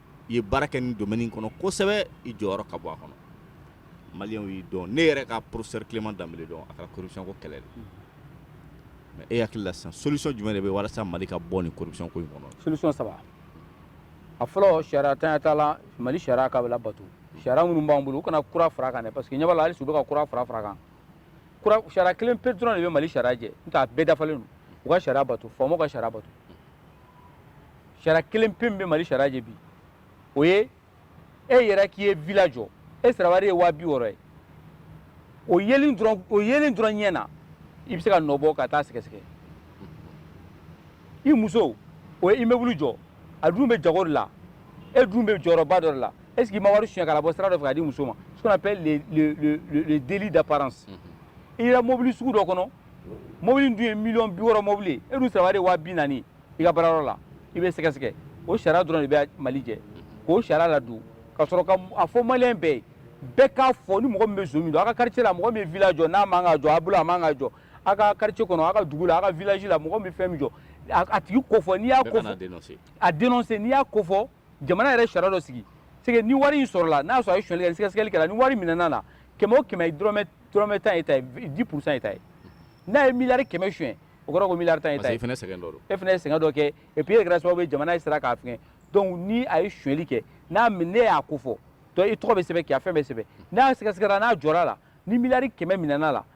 i ye baara kɛ nin domaine in kɔnɔ kosɛbɛ i jɔyɔrɔ ka bon a kɔnɔ maliyɛnw y'i dɔn ne yɛrɛ ka professeur Clément Dembélé dɔn a kɛra corruption ko kɛlɛ de ye mais e hakili la sisan solution jumɛn de bɛ walasa Mali ka bɔ nin corruption ko in kɔnɔ solution saba a fɔlɔ sariyantanya t'a la Mali sariya k'a bɛɛ labato sariya minnu b'an bolo u kana kura fara a kan dɛ parce que n ɲɛ b'a la hali sisan u bɛ ka kura fara fara a kan kura sariya kelen pe dɔrɔn de bɛ Mali sariya jɛ n'o tɛ a bɛɛ dafalen don u ka sariya bato faamaw ka sariya bato sariya kelen pe min bɛ mali sariya jɛ bi o ye e yera k'i ye vila jɔ e sarawari ye waa bi wɔɔrɔ ye o yelen dɔrɔn o yelen dɔrɔn ɲɛ na i bɛ se ka nɔ bɔ ka taa sɛgɛsɛgɛ i muso o ye immeuble jɔ a dun bɛ jago de la e dun bɛ jɔyɔrɔba dɔ de la est ce que i ma wari suɲɛ k'a labɔ sira dɔ fɛ k'a di muso ma ce qu'on appelle le, le, le, le, le délit d'apparence i yera mobili sugu dɔ kɔnɔ mobili dun ye miliyɔn bi wɔɔrɔ mobili e dun sarawari ye waa bi naani i ka baarayɔrɔ la i bɛ sɛgɛsɛgɛ o sariya dɔrɔn de bɛ mali jɛ k'o sariya ladon ka sɔrɔ k'a fɔ maliyɛn bɛɛ ye bɛɛ k'a fɔ ni mɔgɔ min bɛ zon min dɔn a ka quartier la mɔgɔ min ye vila jɔ n'a man ka jɔ a bolo a man ka jɔ a ka quartier kɔnɔ a ka dugu la a ka village la mɔgɔ min ye fɛn min jɔ a tigi ko fɔ n'i y'a ko fɔ a denonse n'i y'a ko fɔ jamana yɛrɛ sariya dɔ sigi c'est que ni wari in sɔrɔla n'a sɔrɔ a ye sonyali kɛ ni sɛgɛsɛgɛli kɛra ni wari minɛna a la kɛmɛ o kɛmɛ dɔrɔmɛ dɔrɔmɛ tan y'e ta ye dix pour cent y'e ta ye n'a ye miliyari kɛmɛ suɲɛ o kɔrɔ ko miliyari tan y'e ta ye e fana ye sɛgɛn dɔ don e fana ye sɛgɛn dɔ kɛ et puis e kɛra sababu ye jamana ye sira k'a fɛngɛ donc ni a ye sonyali kɛ n'a min n'e y'a ko fɔ donc i tɔgɔ bɛ sɛbɛn k'i ka fɛn bɛɛ sɛbɛn n'a sɛgɛsɛgɛra n'a jɔra a la ni miliyari kɛmɛ minɛna a la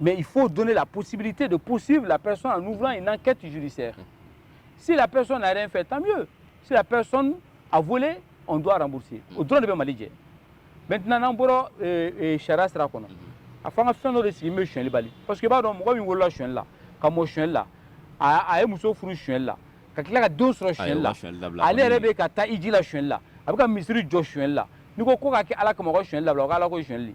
Mais il faut donner la possibilité de poursuivre la personne en ouvrant une enquête judiciaire. Si la personne n'a rien fait, tant mieux. Si la personne a volé, on doit rembourser. O dɔrɔn de bɛ Mali jɛ. Maintenant, n'an bɔra sariya sira kɔnɔ a fɔ an ka fɛn dɔ de sigi bɛ sonyali bali parce que i b'a dɔn mɔgɔ min wolola sonyali la ka mɔ sonyali la a ye muso furu sonyali la ka tila ka den sɔrɔ sonyali la ale yɛrɛ bɛ ka taa hiji la sonyali la a bɛ ka misiri jɔ sonyali la n'i ko k'o ka kɛ ala ka mɔgɔ sonyali la o ka ala ko sonyali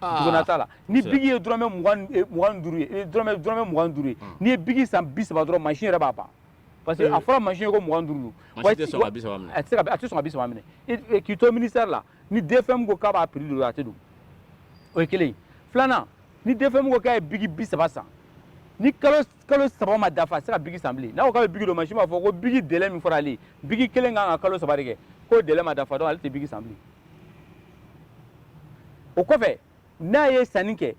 Duguna t'a la ni biki ye dɔrɔmɛ mugan ni mugan duuru ye e dɔrɔmɛ dɔrɔmɛ mugan duuru ye unhun n'i ye biki san bi-saba dɔrɔn machine yɛrɛ b'a ban parce que a fɔra machine ye ko mugan duuru don machine tɛ sɔn ka bi-saba minɛ a tɛ se ka a tɛ sɔn ka bi-saba minɛ i de k'i to ministère la ni DFM ko k'a b'a prix don a tɛ don o ye 1 ye 2 nan ni DFM ko k'a ye biki bi-saba san ni kalo s kalo saba ma dafa a tɛ se ka biki san bilen n'a ko k'a bɛ biki don mansin b'a fɔ ko biki délai min fɔra ale ye biki kelen kan ka kalo saba de kɛ k'o délai ma dafa dɔrɔn ale tɛ biki san bilen o kɔfɛ n'a ye sanni kɛ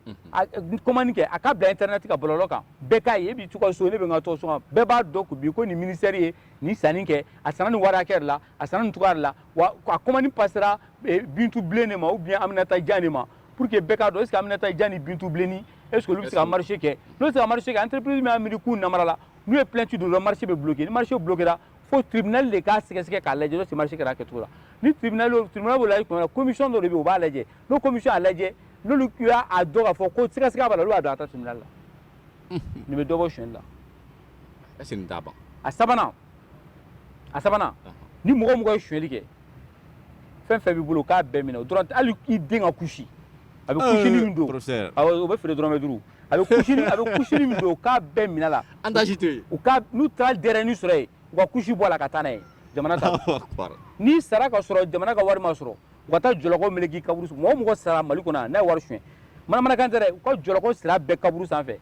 kɔmani kɛ a k'a bila intɛrɛnɛti ka bɔlɔlɔ kan bɛɛ k'a ye e b'i to i ka so ne bɛ n to n ka so bɛɛ b'a dɔn ko bi ko nin minisitɛri ye nin sanni kɛ a sanna nin wari hakɛ de la a sanna nin cogoya de la wa a kɔmani pasera bintu bilen de ma ou bien aminata jan de ma pour que bɛɛ k'a dɔn est ce que aminata jan ni bintu bilenni est ce que olu bɛ se ka marché kɛ n'olu tɛ se ka marché kɛ entreprise min y'a miiri k'u namara la n'u ye plainte don dɔrɔn marché bɛ bloqué ni marché bloquera fo tribunal de k'a sɛgɛsɛgɛ k'a lajɛ n'o tɛ marché kɛra a kɛcogo la ni tribunal y'o tribunal b'o lajɛ tuma min na commission dɔ de bɛ yen o b'a lajɛ n'o commission y'a lajɛ n'olu y'a a dɔn k'a fɔ ko sɛgɛsɛgɛ b'a la olu b'a dɔn a taa tribunal la nin bɛ dɔ bɔ sonyali la est ce que nin t'a ban a sabanan a sabanan ni mɔgɔ mɔgɔ ye suɲɛli kɛ fɛn fɛn b'i bolo k'a bɛɛ minɛ o dɔrɔn hali i den ka kusi a bɛ kusini min don o bɛ feere dɔrɔmɛ duuru a bɛ kusini a bɛ kusini min don u k'a bɛɛ minɛ la an t'a si to yen u ka n'u taara denyɛrɛnin sɔrɔ yen u ka kusi bɔ a la ka taa n'a ye jamana ta n'i sara ka sɔrɔ jamana ka wari ma sɔrɔ u ka taa jɔlɔkɔ meleke kaburu mɔgɔ mɔgɔ sara mali kɔnɔ n'a ye wari suɲɛ manamanakan tɛ dɛ u ka jɔlɔkɔ siri a bɛɛ kaburu sanfɛ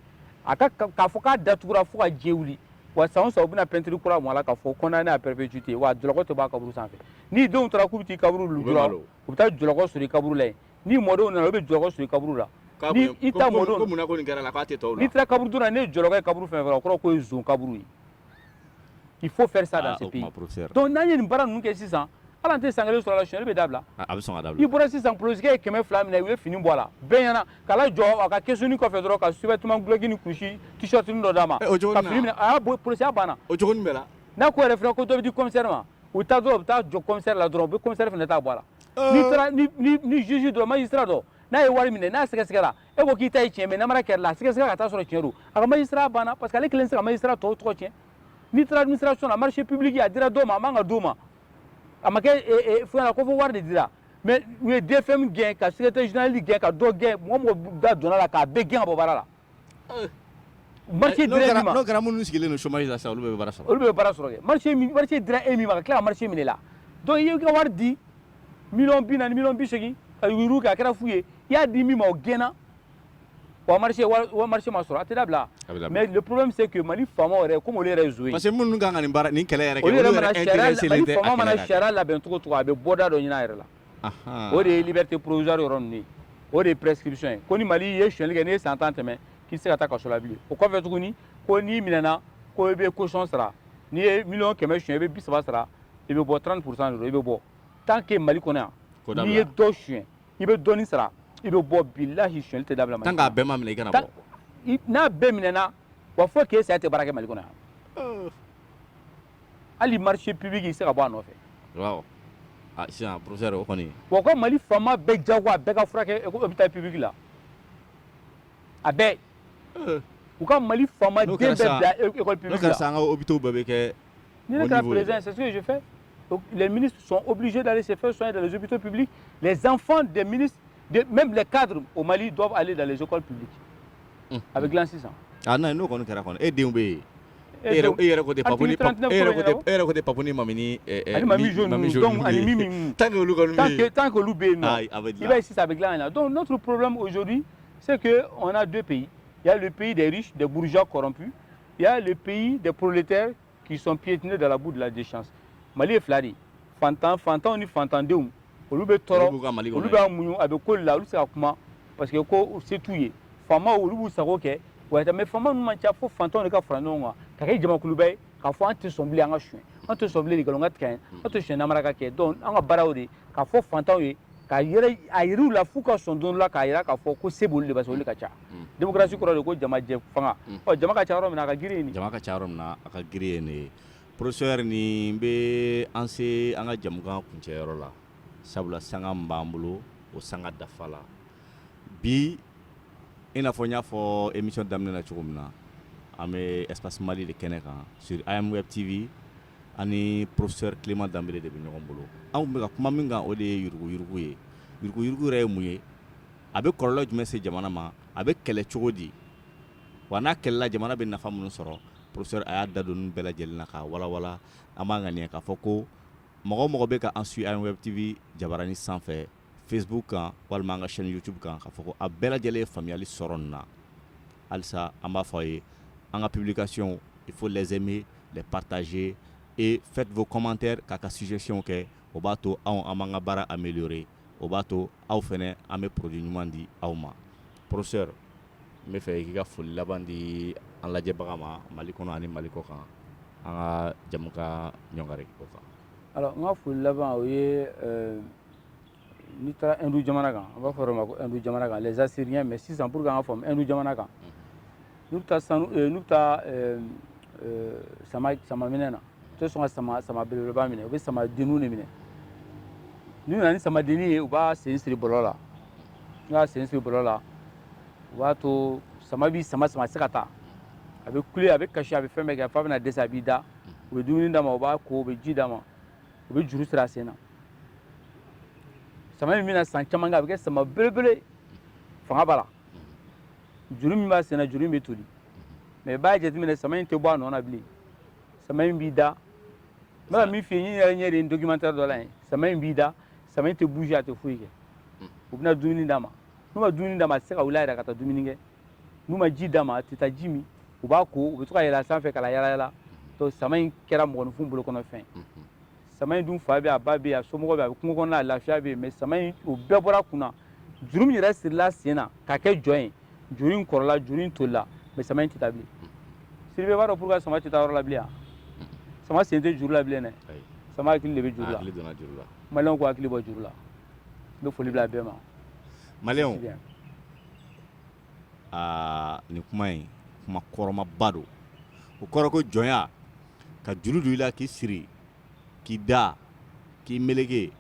a ka k'a fɔ k'a datugura fo ka diɲɛ wuli wa san o san u bɛna pɛntiri kura mun a la k'a fɔ condamné à perpétuité wa jɔlɔkɔ tɛ b'a kaburu sanfɛ ni denw taara k'u bɛ t'i kaburu lujura u bɛ taa jɔlɔkɔ sɔrɔ i kaburu la yen ni mɔdenw nana u bɛ jɔlɔkɔ sɔrɔ i kaburu la ni i ta mɔdenw n'i taara kaburudo la n'e ye jɔlɔkɔ ye kaburu fɛn fɛn o kɔrɔ ko ye zon kaburu ye il faut faire ça dans ah, ce pays donc n'an ye nin baara ninnu kɛ sisan ala tɛ san kelen sɔrɔ a la sonyali bɛ dabila ah, a bɛ sɔn ka dabila i bɔra sisan polisikɛ ye kɛmɛ fila minɛ u ye fini bɔ a la bɛɛ ɲɛna k'a lajɔ a ka kesuni kɔfɛ dɔrɔn ka sous-vêtement gloki ni kusi t-shirt dɔ d'a ma eh, ka fini minɛ a y'a bɔ polisiya banna o cogo bɛɛ la n'a ko yɛrɛ fana ko dɔ bɛ di commissaire ma u taa dɔrɔn u bɛ taa jɔ commissaire la dɔrɔn u bɛ commissaire fana ta bɔ a la eh. n'i taara ni ni ni juge dɔ magistrat dɔ n'a ye wari minɛ n'a sɛgɛsɛgɛra e ko k'i ta ye tiɲɛ mais namara kɛra la a sɛgɛsɛgɛra ka taa sɔrɔ tiɲɛ don a ka magistrat banna parce que ale kelen tɛ se ka magistrat tɔw tɔgɔ tiɲɛ n'i taara administration na marché public a dira dɔ ma a man ka d'o ma a ma kɛ fɛn na ko fo wari de dira mais u ye dfm gɛn ka secrétaire général gɛn ka dɔ gɛn mɔgɔ mɔgɔ da donna la k'a bɛɛ gɛn ka bɔ baara la eh. marché dira e min ma n'o kɛra minnu sigilen don chômage la sisan olu bɛ baara sɔrɔ olu bɛ baara sɔrɔ kɛ marché min marché dira e min ma ka tila ka marché minɛ la donc i ye ka wari di miliyɔn bi naani miliyɔn bi seegin ka yurugu kɛ a kɛra fu ye i y'a di min ma o gɛnna wa marché ma sɔrɔ a tɛ dabila mais le problème c'est que mali faama yɛrɛ ko yɛrɛ zon parce minnu kan ka nin baara ni kɛlɛ yɛrɛ sariya labɛn cogo to a bɛ bɔda dɔ ɲini a yɛrɛ la o de ye liberté provisoire yɔrɔ o de ye prescription ko ni mali ye sonyali kɛ ni san tan tɛmɛ k'i tɛ se ka taa kaso la bilen o kɔfɛ tuguni ko n'i minɛna ko i bɛ caution sara n'i ye mi kɛmɛ son i bɛ saba sara i bɛ bɔ trente pour cent i bɛ bɔ tan kɛ mali kɔnɔ yan n'i ye dɔ son i bɛ dɔɔni sara i bɛ bɔ bilahi sonyali tɛ dabila Mali kɔnɔ. Tant que a bɛɛ ma minɛ i kana bɔ. N'a bɛɛ minɛna wa fo k'e sa i tɛ baara kɛ Mali kɔnɔ yan. Euh. Hali marché public i tɛ se ka bɔ a nɔfɛ. Waaw. Ah sisan professeur o kɔni. Wa ko Mali faama bɛɛ jagoya bɛɛ ka furakɛ hôpital public la. a bɛɛ eh. u ka mali faama den bɛɛ bila école publique la comme ça an ka hôpitaux bɛɛ bɛ kɛ ni ne kɛra président c'est ce que je fais Donc, les ministres sont obligés d'aller se faire soigner dans les hôpitaux publics les enfants des ministres de, même les cadres au Mali doivent aller dans les écoles publiques mmh. avec l'an 600 ah non n'o kɔni kɛra kɔni e denw bɛ yen e yɛrɛ e yɛrɛ ko tɛ papuni e yɛrɛ ko tɛ e yɛrɛ ko tɛ papuni mamini ani mami jaune mami jaune donc ani mimi tant que olu kɔni bɛ yen tant que olu bɛ yen non i b'a ye sisan a bɛ dilan ka ɲɛ donc notre problème aujourd'hui C'est qu'on a deux pays. Il y a le pays des riches, des bourgeois corrompus. Il y a le pays des prolétaires qui sont piétinés dans la boue de la déchéance. Mali ye fila de ye. Fantan, fantanw ni fantandenw. Olu bɛ tɔɔrɔ, olu b'a muɲu, a bɛ k'u la, olu tɛ se ka kuma parce que ko se t'u ye. Faamaw olu b'u sago kɛ, wa mais faama ninnu man ca fo fantanw de ka fara ɲɔgɔn kan, ka kɛ jamakuluba ye, k'a fɔ an tɛ sɔn bilen an ka suɲɛ, an tɛ sɔn bilen nkalon ka tigɛ an ye, an tɛ sɔn namara ka kɛ, donc an ka baara y'o de ye, k'a fɔ fantanw ye k'a yira u la f'u ka sɔn don la k'a jira k'a fɔ ko se b'olu de ye pase olu ka ca demokarasi kɔrɔ de ko jama jɛ fanga jama ka ca yɔrɔ min na a ka girin yen jama ka ca yɔrɔ min na a ka girin yen porofesɛri nin bɛ an se an ka jɛmukan kuncɛyɔrɔ la sabula sanga min b'an bolo o sanga dafala bi i n'a fɔ n y'a fɔ emisiyɔn daminɛ na cogo min na an bɛ espace mali de kɛnɛ kan sur am web tv ani porofesɛri kilema danbele de bɛ ɲɔgɔn bolo an tun bɛ ka kuma min kan o de ye yuruguyurugu ye yuruguyurugu yɛrɛ ye mun ye a bɛ kɔlɔlɔ jumɛn se jamana ma a bɛ kɛlɛ cogo di wa n'a kɛlɛla jamana bɛ nafa minnu sɔrɔ porofesɛri a y'a da don a bɛɛ lajɛlen na k'a walawala an b'a ŋaniya k'a fɔ ko mɔgɔ o mɔgɔ bɛ ka an suivre am web tv jabaranin sanfɛ Facebook kan walima an ka chaine YouTube kan k'a fɔ ko a bɛɛ lajɛlen ye faamuyali sɔrɔ nin na. Halisa an b'a fɔ a ye an ka publication il faut les aimer, les partager et faites vos commentaires k'a ka suggestions kɛ. O b'a to anw an b'an ka baara ameliorer o b'a to aw fana an bɛ produit ɲuman di aw ma. Professeur n b'a fɛ i k'i ka foli laban di an lajɛbagaw ma Mali kɔnɔ ani Mali kɔkan an ka jɛmukan ɲɔngiri o kan. Alors n ka foli laban o ye ɛɛ n'i taara hindu jamana kan an b'a fɔ o ma ko hindu jamana kan les assyriens mais sisan pour que an k'a faamu hindu jamana kan n'u bɛ taa sanu eh, n'u bɛ taa eh, eh, sama sama minɛ na u tɛ sɔn ka sama sama belebeleba minɛ u bɛ sama denniw de minɛ n'u nana ni sama denni ye u b'a sen siri bɔlɔ la n'u y'a sen siri bɔlɔ la u b'a to sama b'i sama sama a tɛ se ka taa a bɛ kule a bɛ kasi a bɛ fɛn bɛɛ kɛ f'a bɛna dɛsɛ a b'i da u bɛ dumuni d'a ma u b'a ko u bɛ ji d'a ma u bɛ juru siri a sen na sama in bɛna san caman kɛ a bɛ kɛ sama belebele fanga b'a la juru min b'a sen na juru in bɛ toli mɛ i b'a jateminɛ sama in tɛ bɔ a nɔ na bilen sama in b'i da n bɛ ka min f'i ye n yɛrɛ ɲɛ de ye documentaire dɔ la yen sama in b'i da sama in tɛ bouger a tɛ foyi kɛ u bɛna dumuni d'a ma n'u ma dumuni d'a ma a tɛ se ka wuli a yɛrɛ ka taa dumuni kɛ n'u ma ji d'a ma a tɛ taa ji min u b'a ko u bɛ to ka yɛlɛ a sanfɛ ka yala yala to sama in kɛra mɔgɔninfin bolokɔnɔfɛn sama in dun fa bɛ a ba bɛ a somɔgɔ bɛ a bɛ kungo kɔnɔ a lafiya bɛ yen mɛ sama in o bɛɛ bɔr'a kun na juru min yɛrɛ siril'a sen na k'a kɛ jɔn ye juru in kɔrɔla juru in tolila mɛ sama in tɛ taa bilen sidibe b'a dɔn pourquoi sama tɛ taa yɔrɔ la bilen sama sen tɛ juru la bilen dɛ sama hakili de bɛ juru la maliyɛnw k'u hakili bɔ juru la n bɛ foli bila a bɛɛ ma maliyɛnw aa nin kuma in kuma kɔrɔmaba don o kɔrɔ ko jɔnya ka juru don i la k'i siri k'i da k'i meleke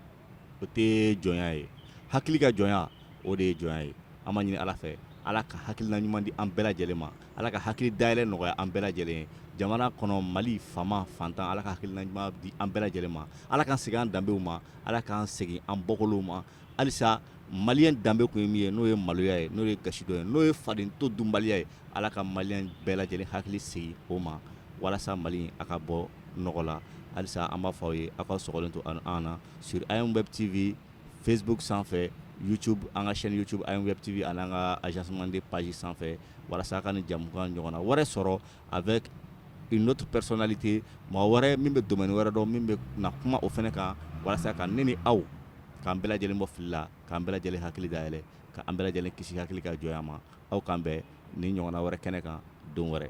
o tɛ jɔnya ye hakili ka jɔnya o de ye jɔnya ye an b'a ɲini ala fɛ ala ka hakilina ɲuman di an bɛɛ lajɛlen ma ala ka hakili dayɛlɛ nɔgɔya an bɛɛ lajɛlen ye jamana kɔnɔ mali fama fantan ala ka hakilina ɲuman di an bɛɛ lajɛlen ma ala k'an segin an danbew ma ala k'an segin an bɔkolow ma halisa maliyɛn danbe tun ye min ye n'o ye maloya ye n'o ye gasi dɔ ye n'o ye faden to dunbaliya ye ala ka maliyɛn bɛɛ lajɛlen hakili segin o ma walasa mali a ka bɔ nɔgɔ la halisa an b'a fɔ aw ye aw ka sɔgɔlen to an na sur am web tv facebook sanfɛ youtube an ka chaîne youtube am web tv ani an ka agence manden page sanfɛ walasa aw ka nin jɛmukan ɲɔgɔnna wɛrɛ sɔrɔ avec une autre personnalité mɔgɔ wɛrɛ min bɛ domaine wɛrɛ dɔn min bɛ na kuma o fana kan walasa ka ne ni aw k'an bɛɛ lajɛlen bɔ fili la k'an bɛɛ lajɛlen hakili dayɛlɛ k'an bɛɛ lajɛlen kisi hakili ka jɔnya ma aw k'an bɛn nin ɲɔgɔnna wɛrɛ kɛnɛ kan don wɛrɛ